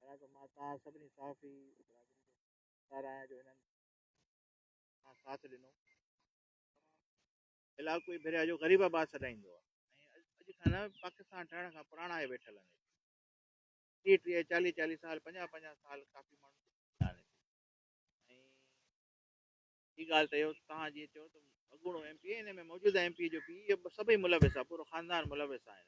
ادا ته مان توهان سڀني صحافي برادري جو شڪار آهيان جو هنن سان ساٿ ڏنو تمام علائقو ئي ڀريا جو غريب آباد سڏائيندو آهي اڄ کان نه پاڪستان ٺهڻ کان پراڻا آهي ويٺل آهن ٽيهه ٽيهه چاليهه چاليهه سال پنجاهه پنجاهه سال ڪافي ماڻهو آهن ٻي ڳالهه ته اهو توهان جيئن چيو ته اڳوڻو ايم پي ان ۾ موجوده ايم پي جو پي سڀئي ملوث آهي پورو خاندان ملوث آهن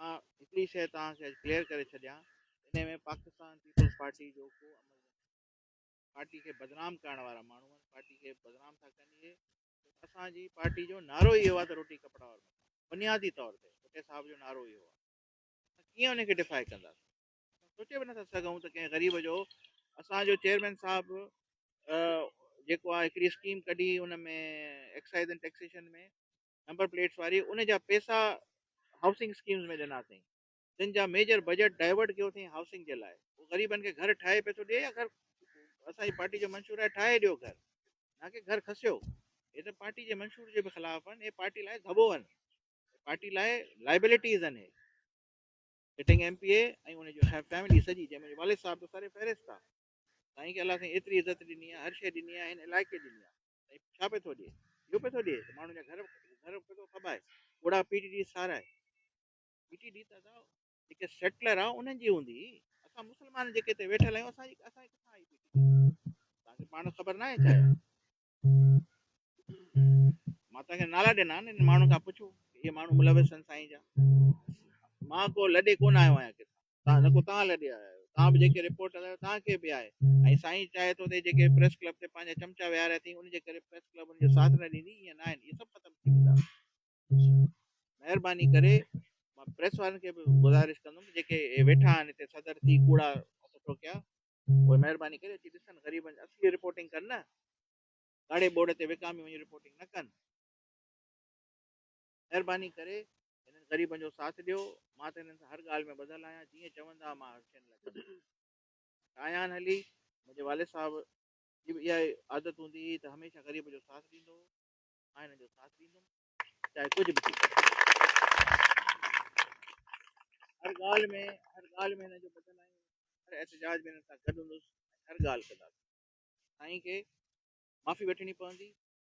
۽ مان هڪڙي شيء توهان کي اڄ ڪليئر ڪري ڇڏيان انهي ۾ پاڪستان پيپلز پارٽي جو ڪو عمل نه ٿيندو. پارٽي کي بدنام ڪرڻ وارا ماڻهو آهن پارٽي کي بدنام ٿا ڪن اهي ڇو ته اسان جي پارٽي جو نعرو ئي اهو آهي ته روٽي ڪپڙا اور مڪان بنيادي طور تي ڀٽي صاحب جو نعرو ئي اهو آهي اسان ڪيئن انهي کي ڊفائي ڪنداسين اسان سوچي به نٿا سگهون ته ڪنهن غريب جو اسان جو چيئرمين صاحب جيڪو آهي هڪڙي اسڪيم ڪڍي ان ۾ ايڪسائيز ۽ ٽيڪسيشن ۾ نمبر پليٽس واري ان جا پيسا هائوسنگ اسڪيمز ۾ ڏنا اٿئين جن جا ميجر بجيٽ ڊائيورٽ ڪيو اٿئين هائوسنگ جي لاء هو غريبن کي گهر ٺاهي پئي ٿو ڏي يا گهر اسان جي پارٽي جو منشور آهي ٺاهي ڏيو گهر نه ڪي گهر کسيو هي ته پارٽي جي منشور جي به خلاف آهن هي پارٽي لاء ڌٻو آهن پارٽي لاء لائبلٽيز آهن هي سٽنگ ايم پي اي ۽ ان جو فيملي سڄي جنهن ۾ والد صاحب به سر فهرست آهي سائين کي الله سائين ايتري عزت ڏني آهي هر شيء ڏني آهي هن علائقي ڏني آهي ڇا پئي ٿو ڏئي؟ اهو پئي ٿو ڏئي ته ماڻهن جا گهر گهر پئي ٿو کٻائي، ڪوڙا پي ٽي ڊي سارائي. پي ٽي ڊي ته اسان جيڪي سيٽلر آ انهن جي هوندي، اسان مسلمان جيڪي هتي ويٺل آهيون اسان جي اسان جي ڪٿان آئي پي ٽي ڊي؟ توهان کي پاڻ خبر ناهي ڇا اها؟ مان توهان کي نالا ڏنا آهن، انهن ماڻهن کان پڇو ته اهي ماڻهو ملوث آهن سائين جا؟ مان ڪو لڏي ڪونه آيو آهيان ڪٿان. تان نڪو تان لڏي آيا آهيو تان به جيڪي رپورٽ هلايو تان کي به آهي ۽ سائين چاهي ٿو ته جيڪي پريس ڪلب تي پنهنجا چمچا ويهاريا اٿئي ان جي ڪري پريس ڪلب ان جو ساٿ نه ڏيندي ائين نه آهن اهي سڀ ختم ٿي ويندا مهرباني ڪري مان پريس وارن کي به گذارش ڪندم ته جيڪي ويٺا آهن هتي صدر ٿي ڪوڙا هٿ ٺوڪيا اهي مهرباني ڪري اچي ڏسن غريبن اصلي رپورٽنگ ڪن نه ڪاڙي بورڊ تي وڪامي وڃي رپورٽنگ نه ڪن مهرباني ڪري هنن غريبن جو ساٿ ڏيو، مان ته هنن سان هر ڳالهه ۾ ٻڌل آهيان، جيئن چوندا مان هر شين لاء ڪندس. شايان هلي، منهنجي والد صاحب جي به اها ئي عادت هوندي هئي ته هميشه غريب جو ساٿ ڏيندو هو، مان هنن جو ساٿ ڏيندم چاهي ڪجهه به ٿي پوي. هر ڳالهه ۾ هر ڳالهه ۾ هنن جو ٻڌل آهيان، هر احتجاج ۾ هنن سان گڏ هوندس ۽ هر ڳالهه ڪنداسين. سائين کي معافي وٺڻي پوندي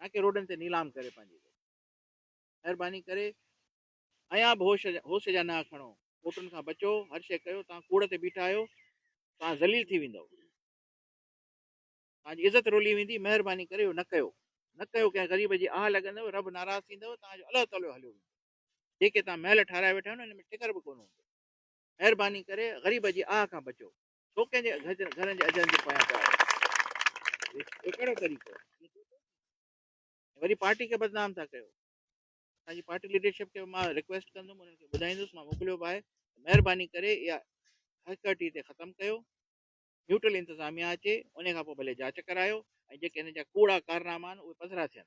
نه ڪي روڊن تي نيلام ڪري پنهنجي ويجهي مهرباني ڪري ايان به هوش هوش جا نها کڻو ڪوٽن کان بچو هر شي ڪيو توهان ڪوڙ تي بيٺا آهيو توهان ذليل ٿي ويندو تنهنجي عزت رولي ويندي مهرباني ڪري اهو نه ڪيو نه ڪيو ڪنهن غريب جي آهه لڳندو رب ناراض ٿيندو تنهنجو الله تعالو هليو ويندو جيڪي تنهن محل ٺهرائي ويٺا آهيو هن ۾ ٽڪر به ڪونه هوندو مهرباني ڪري غريب جي آهه کان بچو ڇو ڪنهن جي گهجن گهرن جي اجهن جي پويان پيا وڃو هي ڪهڙو طريقو آهي وري پارٽي کي بدنام ٿا ڪيو اسان جي پارٽي ليڊرشپ کي مان رڪويسٽ ڪندم انهن کي ٻڌائيندس مان موڪليو به آهي مهرباني ڪري اها هڪرٽي تي ختم ڪيو نيوٽرل انتظاميا اچي ان کان پوء ڀلي جاچ ڪرايو ۽ جيڪي هن جا ڪوڙا ڪارناما آهن اهي پڌرا ٿين